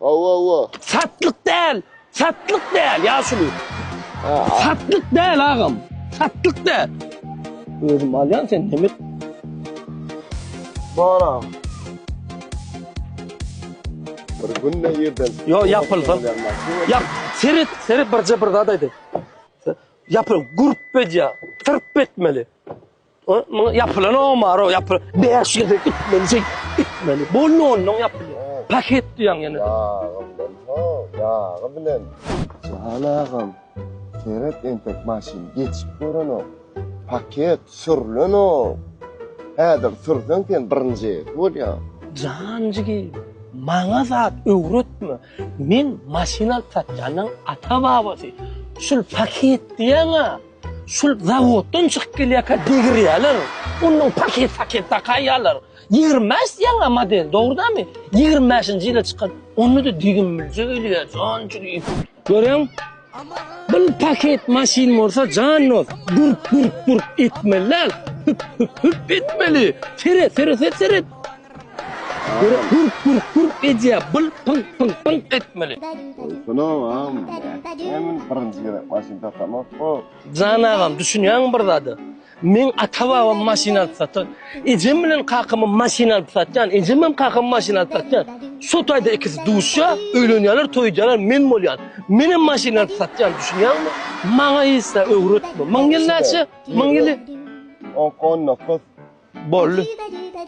Awa awa. Satlyk däl. Satlyk däl ýaşuly. Satlyk däl agam. Satlyk däl. Özüm alýan sen näme? Bara. Bir gün ne ýerden? Yo ýapylsyn. Ýap. Seret, seret birje bir zat aýdy. Ýapyl, gurp edýä. Tyrp etmeli. Muňa ýapylan omaro, ýapy. Bäş ýerde gitmeli, şey, gitmeli. Bu nondan ýapylan. Paket diýen ýene. Ýagymdan, ho, ýagy bilen. Jahan agam, seret entek maşyn geçip görenok. Paket sürlenok. Häzir sürseň sen birinji bolýaň. Jan jigi, maňa zat öwretme. Men maşyn alyp satýanyň ata-babasy. Şul paket diýen-ä. Şul zawoddan çykyp gelýärkä degirýärler. Ondan paket-paket dakaýýarlar. Ýigrimi bäş diýýäň-ä model, dogrudanmy? Ýigrimi bäşinji ýyla çykan. Onda-da düýbümbilje ölýär, janjygym. Görüň, bir paket maşyn bolsa, jan dost, gurk-gurk-gurk etmeli däl. Hüp-hüp-hüp etmeli. Seret, seret, seret, seret. Gürk gürk gürk gürk edýä bul pyň pyň pyň etmeli. Salam agam. Men birinji gezek maşyn satamok bu. Jan agam düşünýäňmi bir zada? Meň ata babam maşyn alyp satar. Ejem bilen kakamam maşyn alyp satýan. Ejemem kakamam maşyn alyp satýan. Şo taýda ikisi duşýa, öýlenýäler, toý edýäler, men bolýan. Menem maşyn alyp satýan düşünýäňmi? Maňa ýesä öwretme. Myň ýyl näçe? Myň ýyly? Onkon dokuz. Bolly.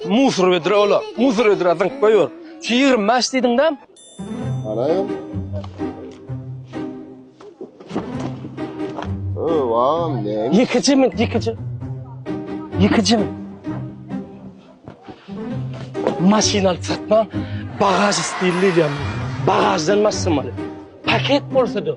Musur vedra ola. Musur vedra zyňyp goýur. Şu 25 diýdiňdä? Garaýam. O, wagam ne? Ýekeje men, ýekeje. Ýekeje men. Maşyn alyp satma, bagaž stilli diýýän. Bagaždan maşyn alyp. Paket bolsa-da,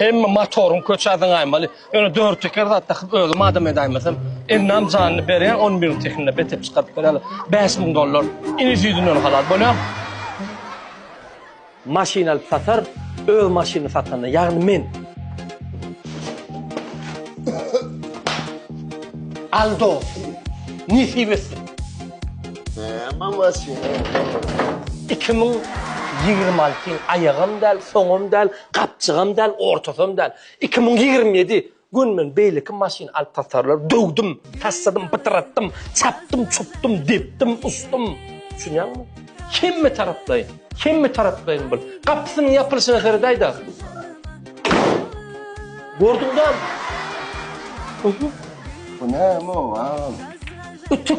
Hemme motoryň köçä zyňaýmaly. Ýöne dört teker zat dakyp özüm adam edäýmesem, elnam janyny berýän on biriň tekinine betep çykaryp bereli. Bäş müň dollar. Iniş ýüzünden halas bolýan. Maşyn alyp satar, öz maşynyny satanda, ýagny men. Al dos. Nesip etsin. Näme maşyn? Iki müň ýigrimi alty ýyl aýagam däl, soňam däl. Gapjygam däl, ortasam däl. Iki müň ýigrimi ýedi Gün men beýleki maşyn alyp tatarlary döwdüm, tassadym, pytratdym, çapdym, çupdym, depdim, usdym. Düşünýäňmi? Hemme taraplaýyn, hemme taraplaýyn bul. Gapysynyň ýapylyşyna seredaýda. Gördüň däl? Bu näme o, agam? Ütük.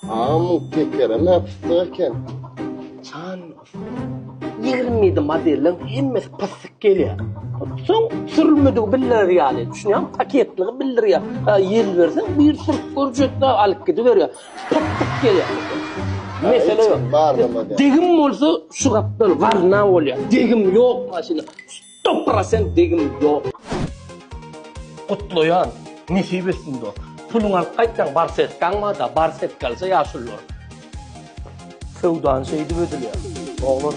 Agam bu tekere näp pyssy eken. Jan ýigrimi ýedi modeliň hemmesi pysyk gelýär. Soň sürülmedigi bildirer ýaly, düşünýäňmi? Paketligi bildirýär. Ha, ýel berseň, bir sürüp görjekdä, alyp gidiberýär. Pysyk gelýär. Mesele ýok. Degim bolsa şu gapdal warna bolýar. Degim ýok maşyna. Top prosent degim yok. Gutlaýan, nesip etsin dost. Puluňy alyp gaýtsaň barsetkaň barda barsetka alsa ýaşulylar. Söwdany şeýdip edilýär oglan.